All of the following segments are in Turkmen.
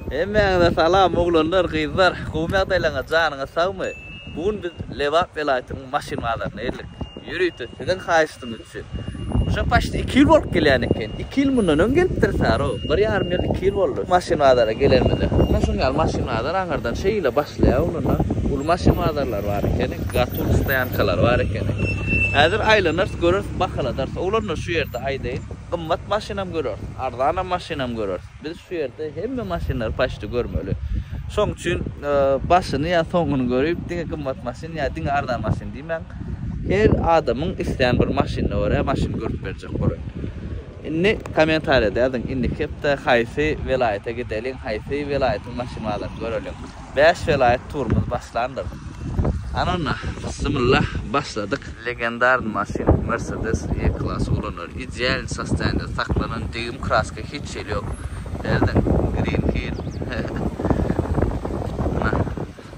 Hemmäňize salam oglanlar gyzlar gowy ýagdaýlaryňyz janyňyz sagmy bu gün biz Lebap welaýatynyň maşyn bazaryna geldik ýörite siziň haýyştyňyz üçin uje paçti iki ýyl bolup gelýän eken iki ýyl mundan öň gelipdiris aro bir ýarym ýyl iki ýyl boldy maşyn bazara gelenimize mundan şuň ýaly maşyn bazar aňyrdan şeýle başlaýar ondanam uly maşyn bazarlary bar ekeni gatur stoýankalary bar ekeni häzir aýlanarys göreris bahaladarys oglanlar şu ýerde aýdaýyn gymmat maşynam göreris arzanam maşynam göreris. Biz şu ýerde hemme maşynlary paçdy görmeli. Şoň üçin başyny ýa soňuny görüp, diňe gymmat maşyn ýa diňe arzan maşyn diýmäň. Her adamyň islän bir maşynyna görä maşyn görüp berjek bolar. Indi kommentariýada ýazyň, indiki hepde haýsy welaýata gideliň, haýsy welaýatyň maşyn bazaryny göreliň. Bäş welaýat turumyz başlandyr. Hany onda, bysymylla, başladyk! Legendarny maşyn Mercedes E-Class ulanýar. Idealny sostoýanide saklanan degim kraska hiç hili ýok. Berdiň, Green Hill.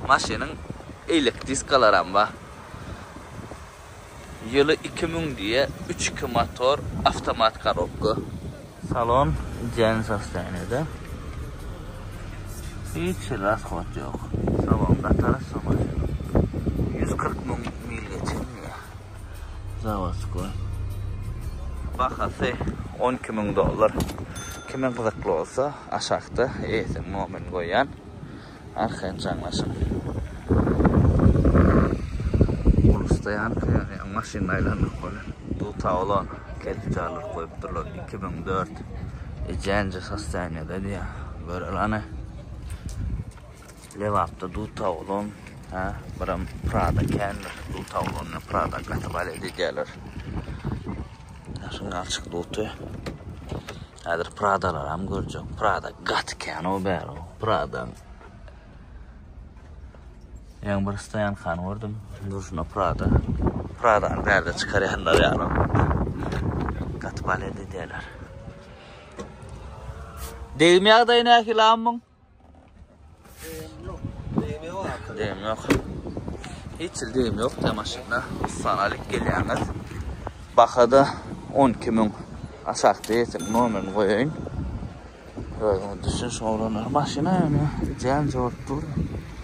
Maşynyň eýlek diskalaram bar. Ýyly iki müň diýe, üç iki motor, awtomat korobka. Salon jeň sostoýanýada. Hiç hili rasxod ýok. Salon gatara şu maşynyň. Ýüz kyrk müň mil geçen diýýä. Zawodskoý. Bahasy on iki müň dollar. Kime gyzykly bolsa aşakda eýesiniň nomerini goýýan. Arkaýyn jaňlaşyň. Ulusda ýanka ýany ýa maşyny aýlandyryp bolar. Duta olan kelipjarlar goýupdyrlar 2004 ijänje sostoýaniýada diýýär. Göreli hany. Lebapda duta olan ha biram Prada kändir. Duta olan bilen Prada gaty balet edýärler. Şuny açyk duty. Häzir Pradalaram görjek. Prada gaty kän o bär o. Prada. Ýaň bir stoýan kan gördüm. Durşuna Prada. Pradany bärde çykarýanlar ýaly. Gaty balet edýärler. Degim ýagdaýy nähili ammyň? Dem yok. Hiç dem yok da maşynda. Sana alıp gelýäňiz. Bahada 12 müň aşakda ýetim nomerini goýaýyn. Özüňiz düşüniň şoňa maşyna ýöne jän jogap dur.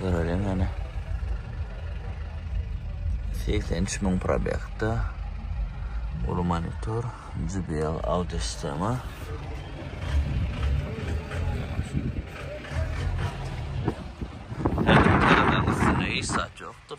Göreliň ýöne. 83 müň probekta. Ulu monitor, JBL audio sistema. Her tarafdan üstüne hiç zat yoktur.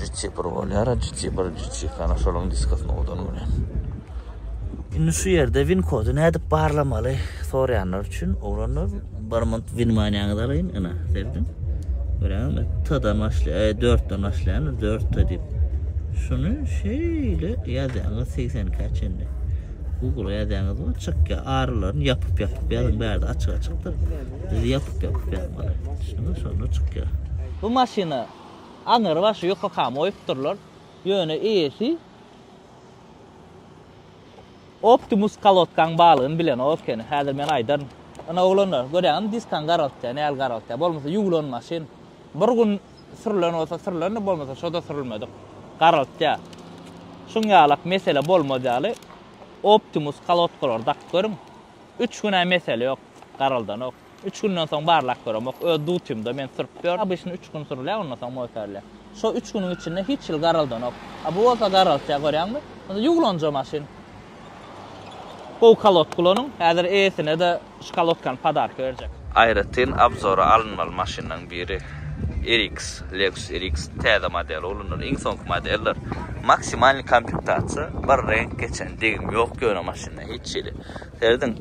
Jitsi bir bolýar, jitsi bir, jitsi kana şoluň diskasyny odan gören. Indi şu ýerde win kody nädip barlamaly soraýanlar üçin oglanlar bir minut winmaniýaňyzy alaýyn ina serediň. Göräňizmi? T-dan başlaýar, 4-den başlaýan 4 t diýip. Şuny şeýle ýazýaňyz 82-ä çenli. Google ýazýaňyz we çykýar. Arylaryny ýapyp-ýapyp ýazyň bärde açyk-açykdyr. Biz ýapyk ýapyk beren gara. Düşündiňmi şonda çykýar. Bu maşyna aňyr başy ýokakam goýupdyrlar. Ýöne eýesi Optimus kolodkaň balygyny bilenok ekeni. Häzir men aýdaryn. Ynha oglanlar, görýäňizmi diskaň garaltýar, nähili garaltýar. Bolmasa ýuwlan maşyn. Bir gün sürlen bolsa sürlendi, bolmasa şoda sürülmedik. Garaltýar. Şuň ýalak mesele bolmaz ýaly Optimus kolodkalary dakyp görüň. Üç güne mesele yok garaldanok. Üç günden soň barlap göremok. Öz dutymda men sürüp gör. Abyşyny üç gün sürülä ondan soň motorle. Şo üç günüň içinde hiç ýyl garaldanok. A bu bolsa garaltýa görýäňmi? Onda ýuwlanja maşyn. Gowy kalotk ulanyň. Häzir eýesine de şu kalotkany podarka berjek. Aýratyn abzora alynmaly maşynlaň biri RX, Lexus RX täze modeli ulanylar. Iň soňky modeller maksimalny komplektasiýa, bir reňk geçen degim ýok ýöne maşyn. Hiç şeyle. Serediň.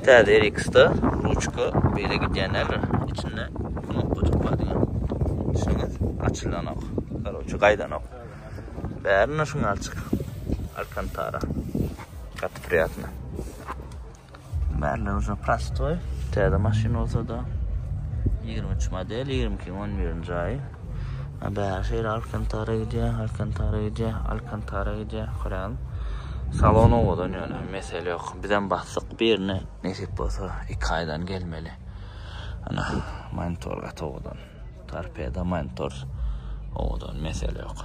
Täze RX-da ruçka beýle gidýän däldir. Içinde knopkajyk bar diňe. Düşündiniz? Açylanok. Karoçe gaýdanok. Bärinde şuňa açyk. Alkantara. Gaty priýatna. Bärler uja prostoý. Täze maşyn bolsa-da. 23 model, 22-nji 11-nji aý. Bäri şeýle Alkantara gidýär, Alkantara gidýär, Alkantara gidýär. Görýän. Salon owadan ýöne mesele ýok. Bizem basdyk birine. Nesip bolsa 2 aýdan gelmeli. Ana monitor gaty owadan. Torpeda monitor owadan mesele ýok.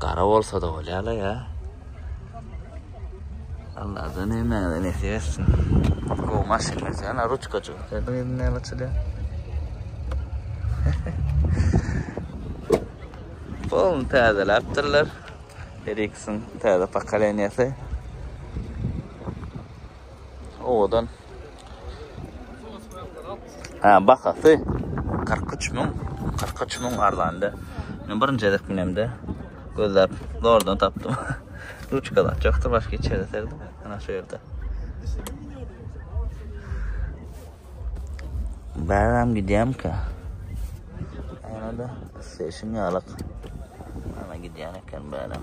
Gara bolsada bolýala ýa. Allah da näme näsip etsin. Go maşyn geçen ruçka çyk. Sen ýerinden näme açylýa? Bol täze laptyrlar. Ericsson täze pokoleniýasy. Owadan. Ha, bahasy 43 müň, 43 müň arzanda. Men birinji gezek binemde gözläp zordan tapdym. Ruçka da çoktur başka içeri serdim. Ana şu yerde. Bäram gidýäm ki. Ana da seşin ýalak. Ana gidýän eken bäram.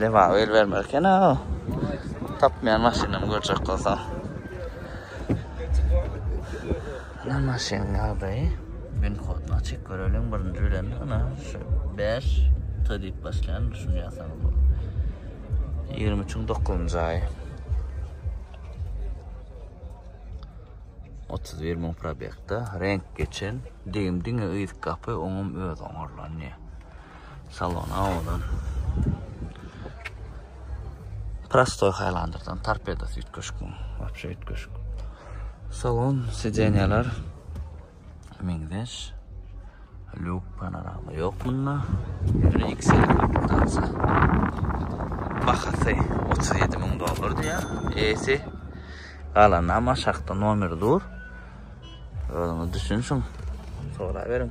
Lebap el bermer ekena. Tapmayan maşynam görjek bolsa. Ana maşyn ýagdaýy. Gün kodunu açyk görelim birinji bilen. Ana şu 5 T diýip başlaýan düşünýärsiňiz bu. 23-iň 9-njy aýy. 31 müň probekde renk geçen. Degim diňe yz gapy, oňum öz oňarlanýar. Salon awadan. Prostoy Highlanderdan torpedo süýt köşk bu. Wapşe süýt köşk. Salon sidenýalar meňzeş. Luk panorama ýok bunda. Ýöne XL kapitasa. Bahasy 37 müň dollar diýýär. Esi galanda ama şahta nomer dur. Özüňiz düşünşiň. Soraberiň.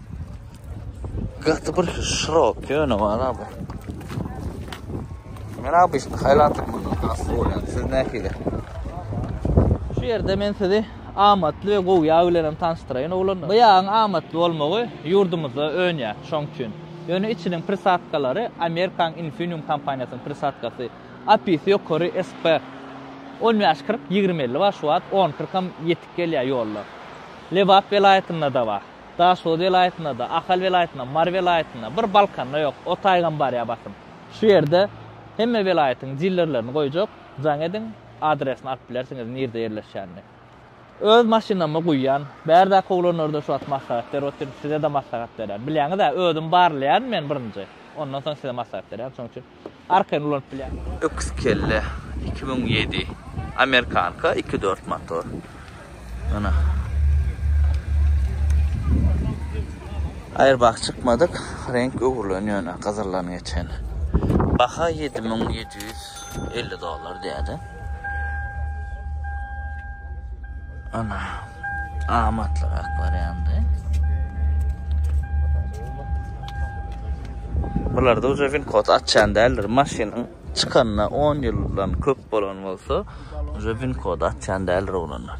Gaty bir şirok ýöne bar abi. Men abi işte haylatım bundan hasta bolýan. Siz nähili? Şu ýerde men sizi amatly we gowy ýag bilen hem tanyşdyraýyn oglanlar. Bu ýagyň amatly bolmagy ýurdumyzda önýär, şoň üçin. Ýöne içiniň prisadkalary Amerikan Infinium kompaniýasynyň prisadkasy. Apisi ýokary SP. On bäş kyrk, ýigrimi elli bar şu wagt, on kyrkam ýetik gelýär ýollar. Lebap welaýatynda-da bar. Daşoguz welaýatynda-da, Ahal welaýatynda, Mary welaýatynda, bir Balkanda ýok. O taýgam barýa basym. Şu ýerde hemme welaýatyň dillerlerini goýjak, jaň ediň, adresini alyp bilersiňiz nirde ýerleşýänini. Öz maşynama guýýan. Bärdäki oglanlarda şu wagt maslahat berip otyryn, size-de maslahat berýän. Bilýäňiz-ä, özüm barlaýan men birinji, ondan soň size maslahat berýän, şonuň üçin. arkaýyn ulanyp bilýär. Öküz kelle iki müň ýedi amerikanka iki dört motor. Ana. Airbag çykmadyk, renk öwrülen ýöne gyzyldan geçen. Baha 7750 dollar diýýärdi. Ana. Amatlyrak barýandy. Bular da uca win kod açan däldir. Maşynyň çykanyna 10 ýyldan köp bolan bolsa, uca win kod açan däldir oglanlar.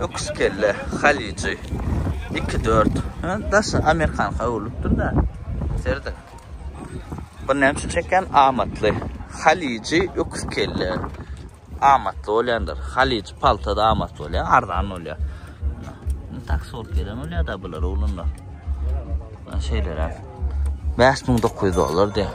Öküz kelle, halyjy. 2-4. Daşy Amerikan howlupdyr da. Serdi. Bu näme üçin çekýän? Amatly. Halyjy, öküz kelle. Amatly bolýandyr. Halyjy paltada amatly bolýar, arzan bolýar. Tak sort gelen bolýar da bular oglanlar. Şeýleräk. 5900 dollar diýär.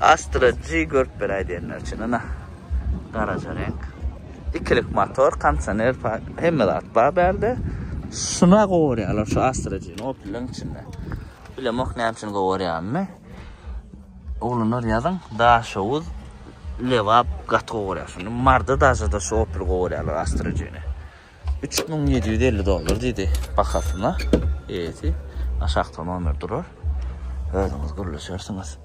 Astra G görüp bir aydiyenler için ana. Garaja renk. İkilik motor, kansaner, hem de atba berdi. Şuna kovuruyorlar şu Astra G'ni o pilin içinde. Bilemok ne için kovuruyor mı? Oglanlar ýazyň, Daşoguz, Lebap gaty gowy görýär. Şunda Marda daşa da şu Opel gowy görýärler Astrojini. 3750 dollar diýdi bahasyna. Eýesi aşakda nomer durar. Özüňiz gürleşersiňiz.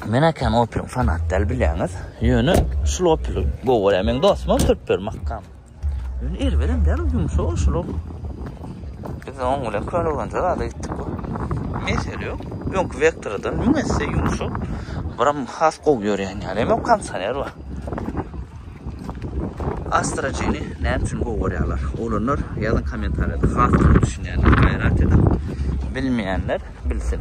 Men akan Opel fanat däl bilýäňiz. Ýöne şu Opel gowy görýär. Men dostum Türkber makam. Ýöne erbedem däl ol ýumşak ol şular. Biz oň bilen köne gonja zada gitdik bu. Mesele ýok. Öňki vektordan müň esse ýumşak. Buram has gowy ýörýän ýaly. Emma kondisioner bar. Astra G-ni näme üçin gowy görýärler? Oglanlar ýazyň kommentariýada has gowy düşünýänler gaýrat edip bilmeýänler bilsin.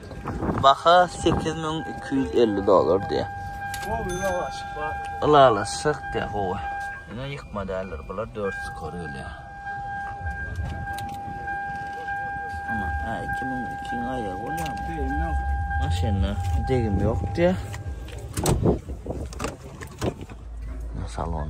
Baha sekiz müň iki ýüz elli dollar diýýär. Ylalaşjak diýýär gowy. Ýöne ýykma däldir bular dört skor gelýär. Ana, hä, iki müň ikiň aýagy bolýarmy? Degim ýok. Maşynda degim ýok diýýär. Salon.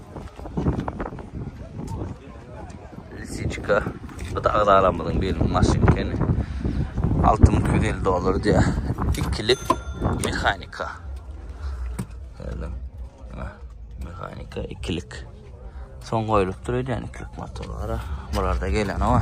Lisiçka. Bu da agzalamyzyň beliniň maşyny ekeni. 6250 dollar diýä. Ikili mehanika. Gördüm. Mehanika ikilik. Son goýulypdyr öýdýän ikilik motorlara. Bularda gelen o.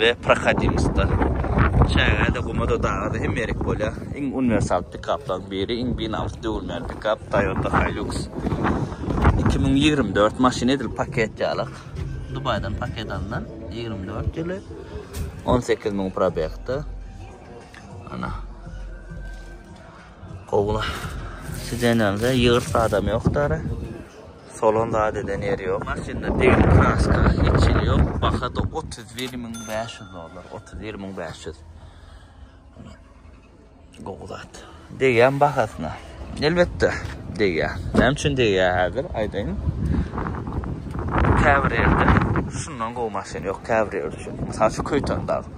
we prohodimostda. Çägä-de, guma-da, daga-da hemme ýerik bolýar. Iň uniwersal pikaplaryň biri, iň binamys döwülmän pikap Toyota Hilux. Iki müň ýigrimi dört maşyn edil paket ýalak. Dubaýdan paket alnan, ýigrimi dört ýyly, on sekiz müň probegda. Ana. Gowla. Sidenende ýygyrt adam ýok dara. Solan zadeden ýeri ýok. Maşynda degli kraska hiç hili ýok. Baha da 31500 dollar. 31500. Gowy zat. Degýän bahasyna. Elbetde degýär. Näme üçin degýär häzir aýdaýyn. Käbir ýerde şundan gowy maşyn ýok käbir ýerde. Mysal şu Köýtendag.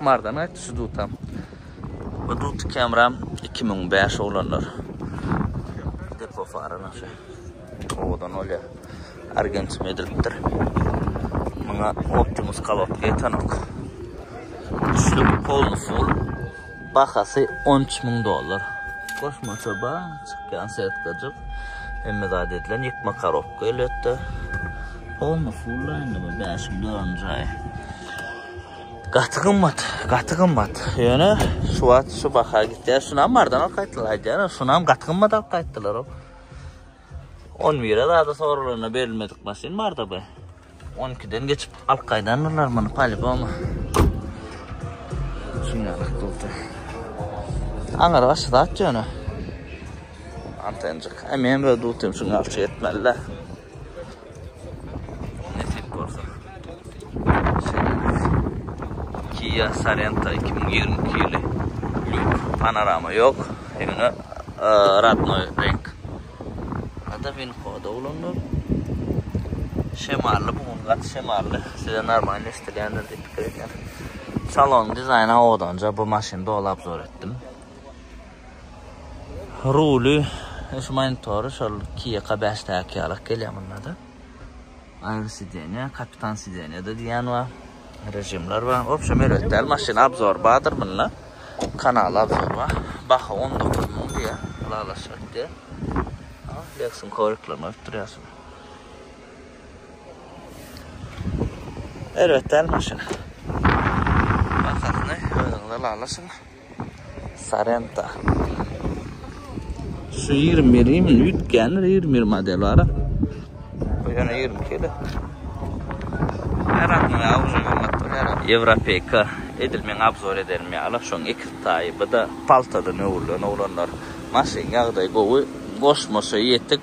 Mardan gaýtdy şu dutam. Bu duty kamera iki müň bäş oglanlar. Depo fara naşa. Owadan bolýar. Argentim edilipdir. Muňa Optimus kalotga ýetenok. Üçlü polny full. Bahasy on üç müň dollar. Goşmaça ba, çykýan setkajyk. Hemme zat edilen ýykma korobka elbetde. Polny full indi bu bäşiň dördünji aýy. Gaty gymmat, gaty gymmat. Ýöne şu wagt şu baha gitýär. Şunam bardan alyp gaýtdylar aýdýar. Şunam gaty gymmat alyp gaýtdylar. 11-e zada sorulanda berilmedik maşyn barda bu. 12-den geçip alyp gaýdandylar muny paliboma. Şunýa gykyldy. Aňar başy zat ýöne. Antenjik. Hem hem ödüp otyň şuň alçy etmeli. Nesip bolsa. Kia Sorento 2022 ýyly. Luk panorama ýok. Ýöne e, radnoy renk. Ada bin koda ulanlar. Şemally bu gün gat şemally. Size normal eşitilýändir diýip pikir edýän. Salon dizaýny awadanja bu maşyny dolap zor etdim. Ruly, şu monitory şol Kia k bäş däki ýalak gelýär mundada. Aýry sidenýa, kapitan sidenýada diýýän bar. Režimler bar. Obşem erbet däl maşyn obzor bardyr munda. Kanal obzor bar. Baha on dokuz müň diýýär. Ylalaşyk etdi. A, Lexus-yň kovriklaryny goýup durýarsyň. Erbet däl maşyn. Bahasyny özüňiz ylalaşyň. Sorento. Şu ýigrimi bir ýigrimi bir üýtgändir, ýigrimi bir model bar-a. Bu ýene ýigrimi iki ýyly. Her adynyň awyny gymmatdyr, her ady. Ýewropeýka, edil meň abzor edenim ýaly, şoň iki taýy, bu-da paltadan öwrülen oglanlar. Maşyn ýagdaýy gowy, goşmaça ýetik.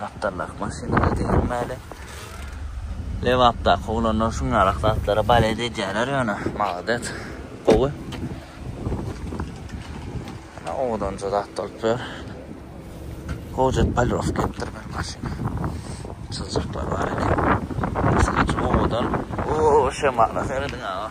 Gapdaldaky maşynada diýilmäli. Lebapdaky oglanlar şunlarak zatlara balet edýärler ýöne. Maladets. Gowy. Ana owadanja zat bolup ýör. Hojat polirowka etdir bir maşyny. Çyzjaklar bar elin. Owadan. Oo şemala serediň aga.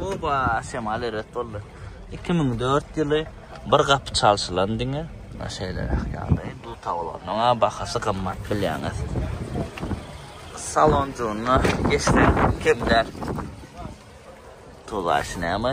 Oba, şemal erbet boldy. 2004 ýyly bir gapy çalşylan diňe. Muna şeýle ýagdaý. Bu tawlanyň bahasy gymmat bilýäňiz. Salonjygyna geçmek kem däl. Tolaýşy näme?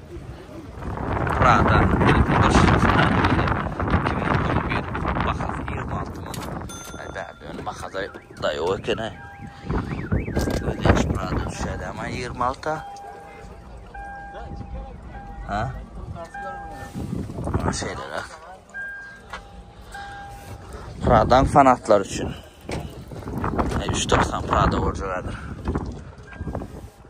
Prada ilki başyny çykardy. Iki müň on bir bahasy ýigrimi alty manat. Bärde ýöne bahada daýaw eken. Ödeýäş Prada düşýärdi ama ýigrimi alta. Ha? Ha şeýleräk. Pradan fanatlar üçin. Üç doksan Prada borjagadyr.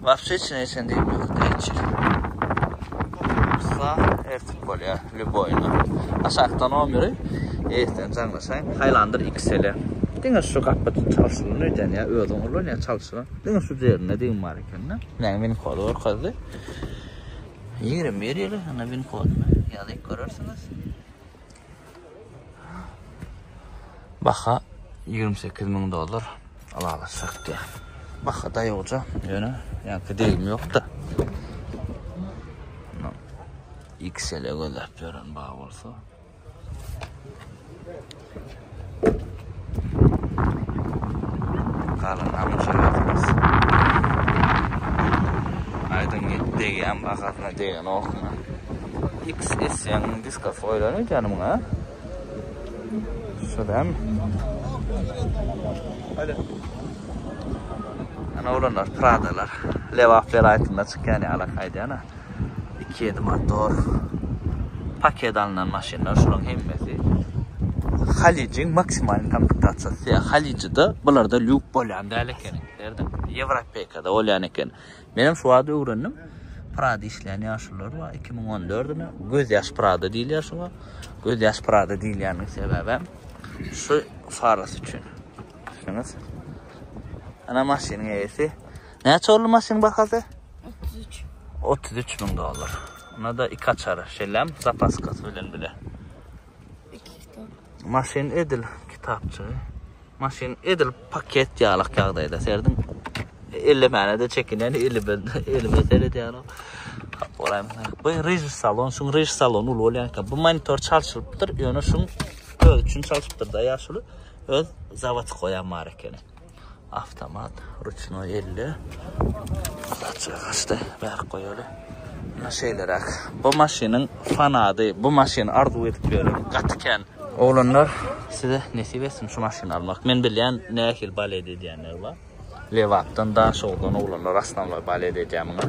Wapşe hiç näçem diýip ýok diýjil. Sa ertip bolýar, lüboýna. Aşakdan on biri, erten jaňlaşaýyn. Haýlandyr iksele. Diňe şu gapy çalşylan öýden ýa özüň ulan ýa çalşylan. Diňe şu derinde diýim bar ekende. Näme win kody görkezdi. Ýigrimi bir ýyly, ýa win kodyny ýazyp görersiňiz. Baha 28 müň dollar. Alala sakdy. Baha da ýokja. Ýöne ýa-da degim ýokda. XL-e gözläp ýören baha bolsa. Galan hamyş öýümiz. Aýdyň git degýän bahasyna degenokmy? XS-yň diskasy goýlan öýdýänim ha? Şu dämi? Ana oglanlar Pradalar. Lebap welaýatynda çykýan ýalak aýdýan-a. 2 ýedi motor paket alnan maşynlar şularyň hemmesi Halyjyň maksimal komplektasiýasy. Ýa Halyjyda bularda lýuk bolýan däl eken. Derdim. Ýewropeýkada bolýan eken. Men hem şu wagt öwrendim. Prada işleýän ýaşulylar bar. 2014 mi? Göz ýaş Prada diýilýär şuňa. Göz ýaş Prada diýilýäniň sebäbi hem şu farasy üçin. Düşüniňiz? Ana maşynyň eýesi. Näçe oldy maşynyň bahasy? 33. 33 müň dollar. Ona da iki açar, şellem zapaskasy bilen bile. Maşyn edil kitapçy. Maşyn edil paket ýalak ýagdaýda serdim. Ellemene de çekinen elime elime seredýär. Oraýam. Bu rij salon, şu rij salon ul bolýanka bu monitor çalşylypdyr. Ýöne şu öz üçin çalşypdyr da ýaşuly. Öz zawod goýan bar ekeni. Awtomat, ruçnoý elde. Alaja gaçdy. Bärik goýaly. Muna şeýleräk. Bu maşynyň fanady. Bu maşyny arzuw edip ýören gaty kän. Oglanlar, size nesip etsin şu maşyny almak. Men bilýän nähili balet edýänler bar. Lebapdan, Daşoguzdan oglanlar asnawlaý balet edýär muňa.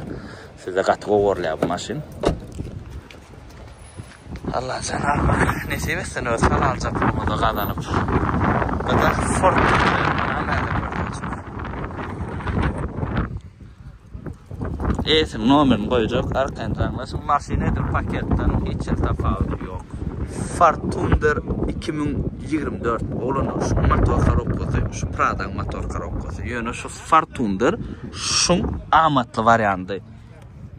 Size gaty gowy görlär bu maşyn. Allah jananyma nesip etsin öz halalca pulumyzy gazanyp gyzak sport Eýesiniň nomerini goýjak, arkaýyn jaňlaşyň. Maşyn edil paketden hiç hil tapawudy ýok. Ford Thunder 2024 oglanlar şu motor korobkasy, şu Prada motor korobkasy. Ýöne şu Ford Thunder şuň amatly wariandy.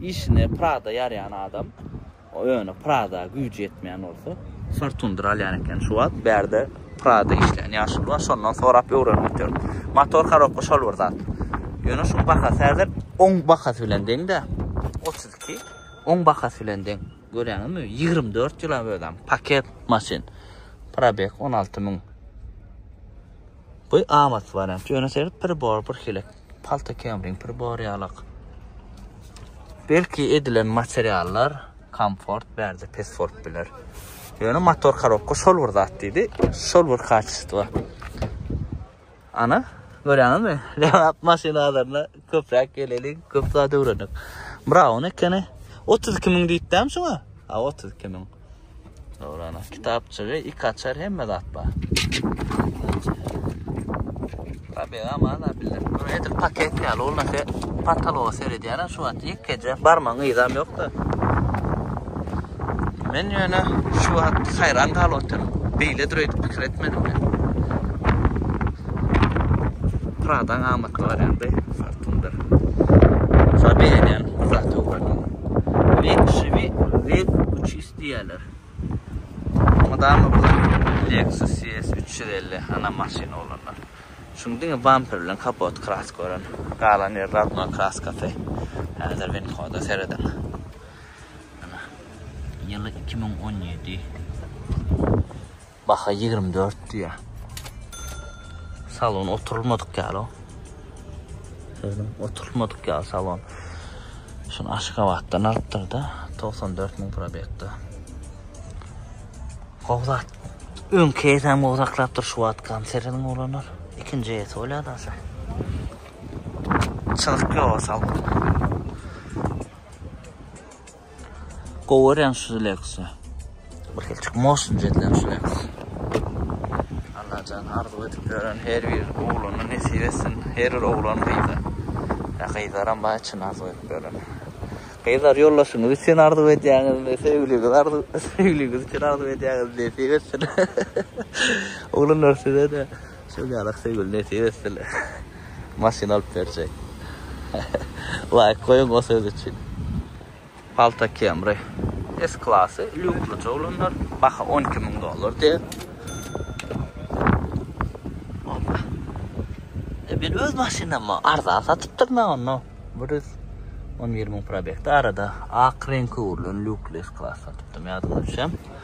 Işine Prada ýaraýan adam. Ýöne Prada güýji ýetmeýän bolsa. Fortuner alýan eken şu wagt. Bärde Prada işleýän ýaşuly bar. Şondan sorap öwrenip otyryn. Motor korobka şol bir zat. Ýöne şuň bahasy häzir oň bahasy bilen deň-dä. 32 oň bahasy bilen deň. Görýäňizmi? 24 ýyla özem paket maşyn. Probeg 16 müň. Bu amat wariant. Ýöne seret pribor bir hilik. Palta kemring pribor ýalak. Belki edilen materiallar komfort berdi, pesfort biler. Ýöne motor korobka şol bir zat diýdi, şol bir kaçesto. Ana, görýäňizmi? Lebap maşyna azarna köpräk geleli, köp zat öwrenek. Braun ekeni. 32 ming diýipdäm şuňa? Ha, 32 ming. Dogry ana. Kitapçygy, iki açar hemme zat bar. Tabii ama ana bilir. Bunu edil paket ya. Olna se pataloga seredýär ha şu wagt. Ýek gece barmaň yzam ýok da. Men ýöne şu wagt hayran galyp otyryn. Beýle düredi pikir etmedim men. Pradan amatly barýan beý. Tundar. Saňa begenýän bir zat ýok welin. Leximi Lex üç ýüz diýýäler. Mydama bir zat ýok. Lexus ES üç ýüz elli ana maşyn oglanlar. Şuň diňe bamper bilen kapot kraska ören. Galan ýeri rodnoý kraskasy. Häzir winkoda serediň. Ana. Ýyly iki müň on ýedi. Baha ýigrimi dört diýýä. Salon oturylmadyk ýaly. Sözüm oturylmadyk ýaly salon. Şuny Aşgabatdan alypdyr da, 94 müň probekde. Gowzat. Öňki eýsem gowzaklapdyr şu wagt konsertin bolanlar. Ikinji eýesi bolýar da sen. Çyzyk ýok salon. Gowy reňk şu Lexus. Bir hilçik motion jedlen şu Lexus. Allajan arzuw edip ýören her bir oglana nesip etsin. Her bir oglan gyza. Ýa gyzlaram bar içini arzuw edip ýören. Gyzlar ýoldaşyňyz üçin arzuw edýäňizmi, söýgüliňiz arzuw, söýgüliňiz üçin arzuw edýäňizmi nesip etsin. Oglanlar size-de. Şol ýaly Aksygül nesip etsele maşyn alyp berjek. Laýk goýuň o söz üçin. Palta Camry S klasy lýukly jowlanlar baha on iki müň dollar diýýär. Oba. E men öz maşynamy arzan satypdyr men onu. Bir ýüz on bir müň probekde arada ak reňki urlan lýukly S klas satypdym ýadyma düşýär.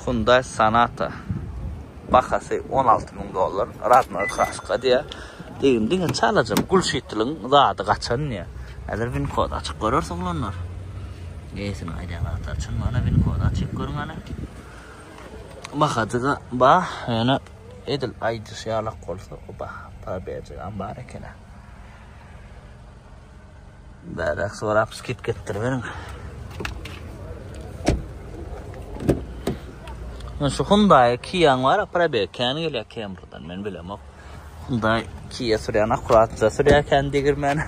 Hyundai Sonata bahasy on alty müň dollar, rodnoý kraska diýýär. Degim diňe çalaja gulşitliň zady gaçan diýýär. Häzir win kod açyp göreris oglanlar. Eýesiniň aýdan zatlar çyn bana win kod açyp görüň hany. Bahajyga ba ýöne edil aýdyş ýalak bolsa o baha para berjegem bar ekeni. Bärek sorap skidka etdiriberiň. Men şu Hyundai Kiaň bar, probeg kän gelýär Kemrydan, men bilemok. Hyundai Kia sürýän akkuratja sürýär kän degirmen.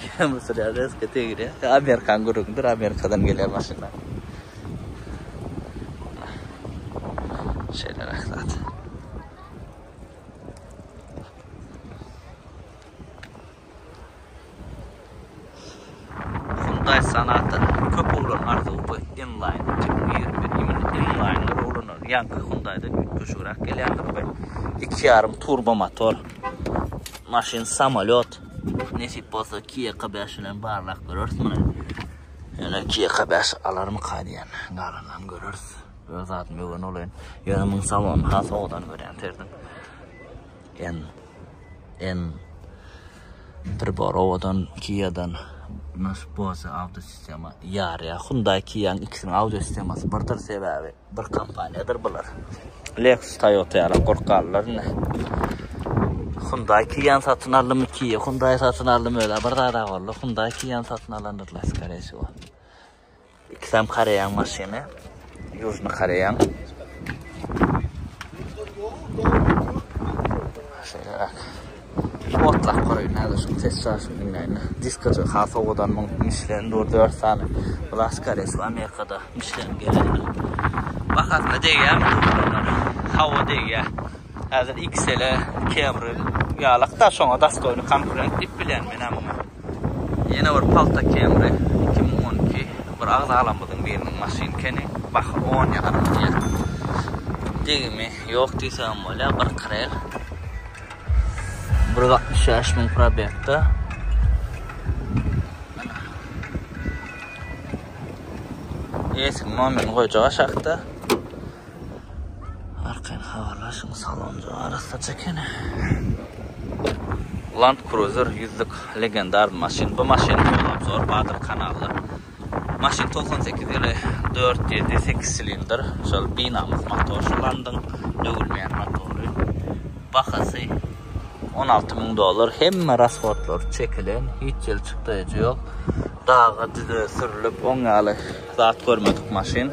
Kemry sürýär rezka degirýär. Amerikan gürrüňidir, Amerikadan gelýär maşynlar. Şeýle rahat. Hyundaý Sonata-nyň köp oglan arzuwy we M-Line iki müň ýigrimi bir iýmit M-Line-ler oglanlaryň ýaňky Hyundaý-dan üýtgeşigräk gelýändir we iki ýarym turbo motor maşyn samolýot nesip bolsa Kia K bäş bilen barlap göreris muny ýöne Kia K bäş alarmyka diýen galanlaryny göreris öz zadym öwrenip olaýyn ýöne muň salonyny has owadan görýän serdim En en priborowadan Kia-dan nasip bolsa audio sistema ýarýar. Hyundai Kia-nyň ikisiniň audio sistemasy birdir sebäbi bir kompaniýadyr bular. Lexus Toyota ýaly gorkarlar indi. Hyundai Kia-ny satyn aldymy Kia Hyundai satyn aldymy öle bir zada boldy. Hyundai Kia-ny satyn alandyr la skore şu. Ikisem Koreýaň maşyny. Ýužny Koreýaň. Şeýle bak. Otlak Koreýaň näze şu ses şaşyny diňleýin. Diskajy ha sowadan muň Michelin dur 4 sany. Bular Koreýa we Amerikada Michelin gelenler. Bahasyna degýärmi bular? Hawa degýär. Häzir XL-e Camry ýalak-da şoňa dastoýny konkurent diýip bilýän men muňa. Ýene bir pagta kemri iki müň on iki bir agzalarymyzyň biriniň maşyn keni baky on ýarym diýýär. Degimi ýok diýsegem bolýar bir krel. Bir ýüz altmyş bäş müň probegde. Mana. Eýesiniň nomini goýjak aşakda. Arkaýyn habarlaşyň, salonjyk arassaç ekeni. Land Cruiser ýüzlük legendar maşyn. Bu maşynyň ýol obzory bardyr kanalda. Maşyn togsan sekiz ýyly dört ýedi sekiz silindr şol binamys motor şu landyň döwülmeýän motory. Bahasy on alty müň dollar. Hemme rashodlary çekilen hiç ýyl çykdaýjy ýok. Daga düze sürlüp oň ýaly zat görmedik maşyn.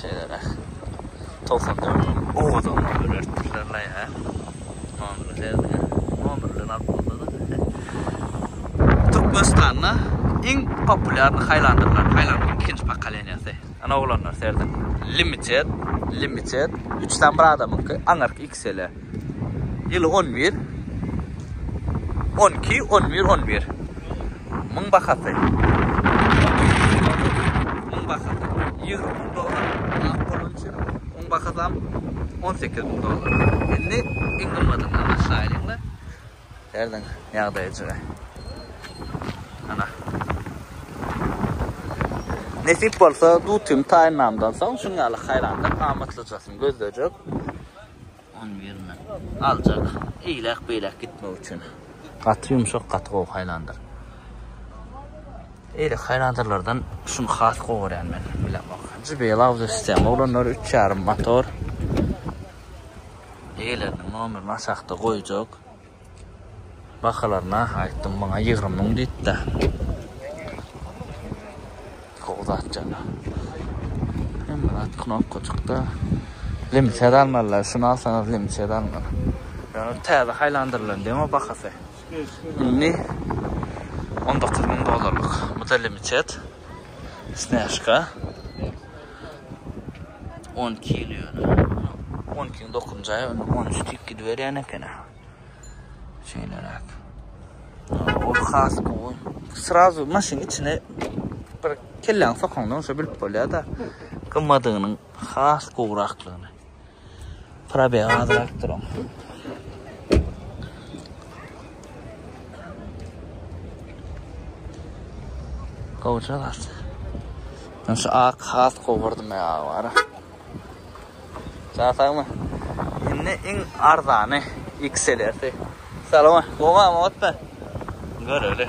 Şeýleräk. Togsan dört ony owadanlyga ölertdirler laý hä. Nomeri sezmän. Nomer bilen alyp bolsady. Türkmenistanda iň populýarny haýlandyrlar. Haýlandyryň ikinji pokoleniýasy. Ana oglanlar serediň. Limited, limited. Üç sany bir adamyňky, aňyrky Mesele. Ýyl on bir. On iki, on bir, on bir. Muň bahasy. Muň bahasy. Ýyl on dollar. Ak bolan üçin. Muň bahasy on sekiz müň dollar. Indi iň gymmadyny aşaýlyň-la. Erden ýagdaýjygy. Ana. Nesip bolsa, dutym taýynlamdan soň şuň ýaly haýrandan amatlyjasyny gözlejek. Onuň ýerine aljak. Eýläk-beýläk gitmek üçin. Gaty ýumşak, gaty gowy haýlandyr. Eýle haýlandyrlardan şuny has gowy görýän men. Bilemok. Jybylawdy sistema oglanlar, üç ýarym motor. Eýeleriniň nomerini aşakda goýjak. Bahalar nah aýtdym muňa ýigrimi müň diýipdä. Gowy zat jana. Hemme zat knopkajykda. Limited almalylar şuny alsaňyz limited almaly. Ýöne täze haýlandyrylan demo bahasy. Indi on dokuz müň dollarlyk. Bu da limited. Snäžka. 12 ýyl ýöne. 12 ýyl dokunjy aýa, indi 13 tik gidiberýän ekeni. Şeýleräk. Ol has gowy. Srazu maşynyň içine bir kelläňi sokaňda onşa bilip bolýar-da, gymmadygynyň has gowrakdygyny. Probeg azrak duran. Gowja zat. Men şu ak has gowurdym ya bara. Çatakmy? Indi iň arzany XLS. Salama, gowamy otda? Göreli.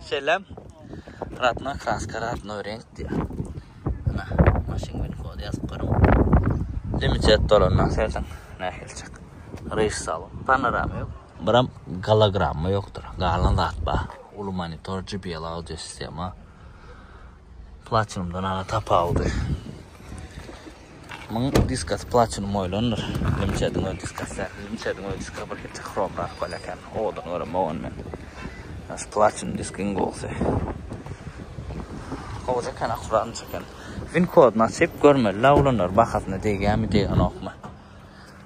Selam. Ratna kraska ratno renk diýär. Ana, maşyn bilen kod ýazyp görüň. Limitet dolanmak sersen nähili çak. Reýs salon, panorama ýok. Biram gologramma ýokdur. Galan zat bar. Uly monitor, JBL audio sistema. Platinumdan ana tapawudy. Muň diskas platinum oýlandyr. Limçediň öz diskas däl. Limçediň öz diska bir hepde hrom galyp galar eken. Owadan görem owan men. Şu platinum disk iň gowusy. Gowy çeken, akuratny çeken. Win koduny açyp görmeli la olanlar bahasyna degýärmi, degýänokmy.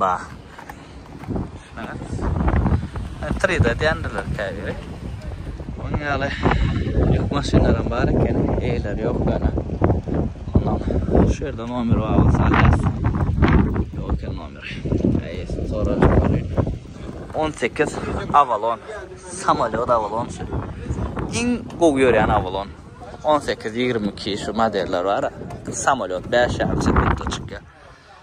Bah. Düşüneňiz. Ä, tride edýändirler käbiri. Onuň ýaly ýük maşynlaram bar eken, eýeleri ýok ýöne. Ondan şu ýerde nomer bar bolsa alarsyň. Ýok eken nomer. Eýesini sorajak welin. 18 Avalon. Samolyot Avalon şu. Iň gowy ýörýän Avalon. 18-22 şu modeller bar. Samolyot 5 ýaly çykýar.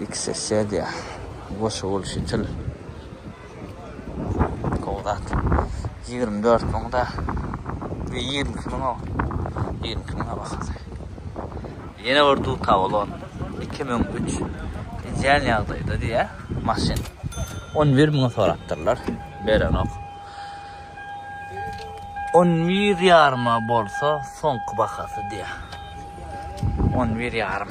Iki sesýa goşa bolşy til. Gowy zat. Ýigrimi dört müň da. Ýe ýigrimi iki müň o. Ýigrimi iki müňe bahasy. Ýene bir duta bolan. Iki müň üç. Ideal ýagdaýda diýä maşyn. On bir müňe sorapdyrlar. Berenok. On bir ýaryma bolsa soňky bahasy diýä. On bir ýarym.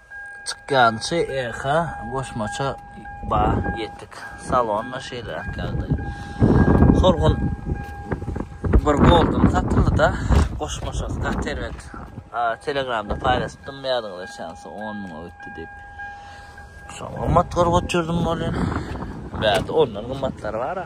Çykýançy Echo goşmaça ba ýetdik. Salon-da şeýleräk ýagdaý. Horgun bir Golden satyldy-da, goşmaçasy gaty erbet. Telegramda paýlaşypdym ýadyňyzda çensi 10 müňe ötdi diýip. Şo gymmat görüp otyrdyň bolýar. Bärde ondan gymmatlary bar-a.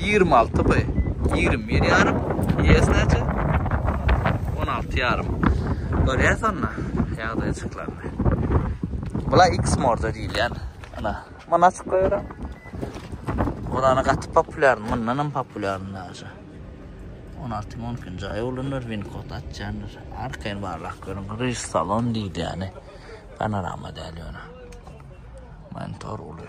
Ýigrimi alty by. Ýigrimi bir ýarym. Ýes näçe? On alty ýarym. Görýäs onda ýagdaýjyklaryny. Bula X morda diýilýän. Ana, muny açyk goýaram. Burana gaty populýar, mundan hem populýaryn daşy. On alty on ikinji aý ulanýar, winkod açýandyr. Arkaýyn barlap görüň, ryż salon diýilýäni. Panorama däl ýöne. Monitor uly.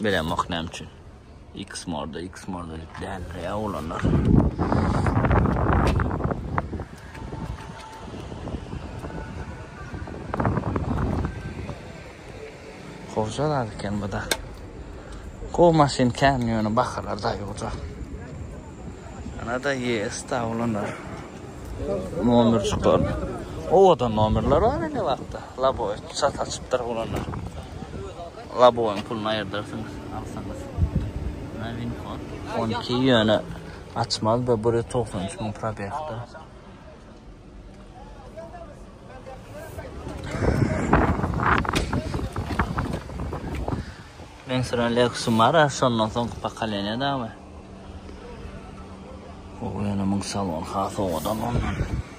Bilem ok näme üçin. X morda, X morda däldir ýa olanlar. Hoja zat eken bu da. Gowy maşyn kän ýöne bahalar daýy hoja. Ana da yes da olanlar. Nomer çykar. Owadan nomerler bar indi wagtda. Labo sat açypdyr olanlar. Laboň puluny aýyrdarsyňyz, alsaňyz. Menä win kod. On iki ýöne açmaz bu bir ýüz togsan üç müň probegda. Men süren Lexus'um bar, şondan soňky pokoleniýa dagmy? O ýöne müň salon has owadan ondan.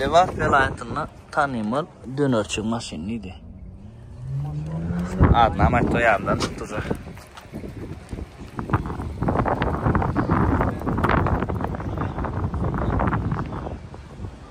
Lebap welaýatynda tanymal dönerçi maşyn diýdi. Adyny hem aýtdy ýadymdan çykdy uje.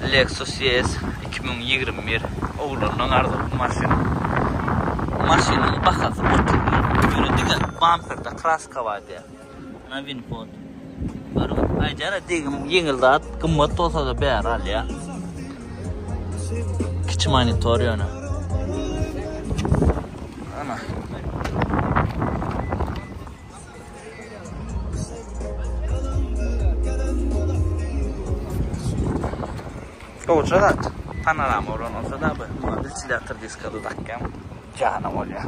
Lexus ES iki müň ýigrimi bir oglanlaň arzuwly maşyny. Maşynyň bahasy otuz müň. Ýöne diňe bamperde kraska bar diýýär. Ana win kod. Görüň, aýdýar-a degim ýeňil zat, gymmat bolsa-da bäri alýa. Kiçi monitor ýöne. Ana. Goja zat. Panorama bolan bolsa-da bu wentilýator diskada dakýan jana bolýa.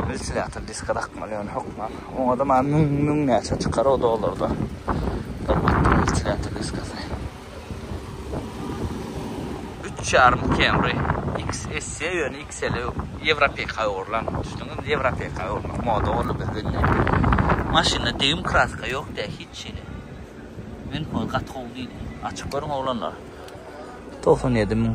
Wentilýator diska dakmaly ýöne hökman. Oňa-da maňa müň, müň näçe çykar o dollarda. Gymmatdyr wentilýator diskasy. Üç ýarym Camry XSE ýöne XL ýewropeka öwrülen düşdüňiz indi ýewropeka öwürmek moda boldy bizde indi maşynda degim kraska ýok dä hiç hili men gaty gowy diýdi açyk görüň oglanlar togsan ýedi müň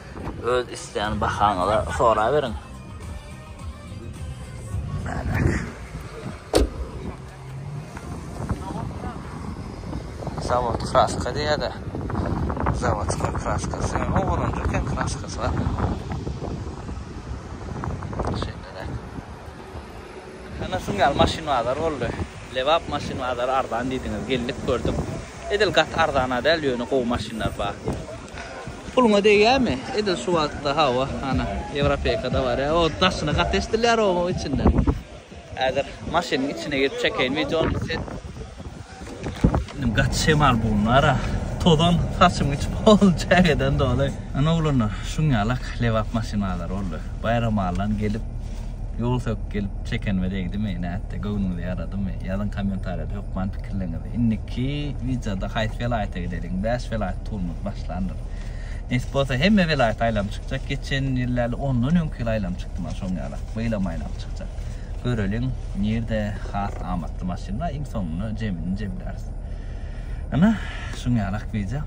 Öz islän bahaňyza soraberiň. Zawod kraska diýýär-de. Zawodska kraskasy, ýöne ogurlanjak eken kraskasy bar. Şeýle-de. Ana şuň ýaly maşyn bazary boldy. Lebap maşyn bazary arzan diýdiňiz, geldik gördük. Edil gaty arzana däl, ýöne gowy maşynlar bar. Puluňa degýämi? Edil şu wagtda hawa, ana, Ýewropeýkada bar. O daşyny gaty eşdilýär oň içinden. Häzir maşynyň içine girip çekeýin wideony, set. Gaty şemal bunlara. Tozan saçym geçip ol çägeden doly. Ana oglanlar, şuň ýalak lebap maşynalary boldy. Baýram allan gelip, ýol söküp gelip çekenime degdimi, nätdi, göwnüňize ýaradymy? Ýazyň kommentariýada hökman pikirleriňizi. Indiki wideoda haýsy welaýata gideliň? Bäş welaýat turumyz başlandyr. Nesip bolsa hemme welaýata aýlanyp çykjak. Geçen ýyl ýaly ondan öňki ýyl aýlanyp çykdym, şoň ýalak. Bu ýylam aýlanyp çykjak. Göreliň nirde has amatly maşynlar iň soňunda jemini jemläris. Ene şuň ýalak wideo.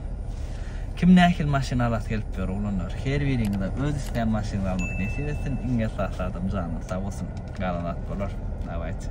Kim nähili maşyn alasy gelip ýör oglanlar. Her biriňize öz islän maşynyňyzy almak nesip etsin. Iň esasy adam janyňyz sag bolsun. Galan zat bolar. Dawayt.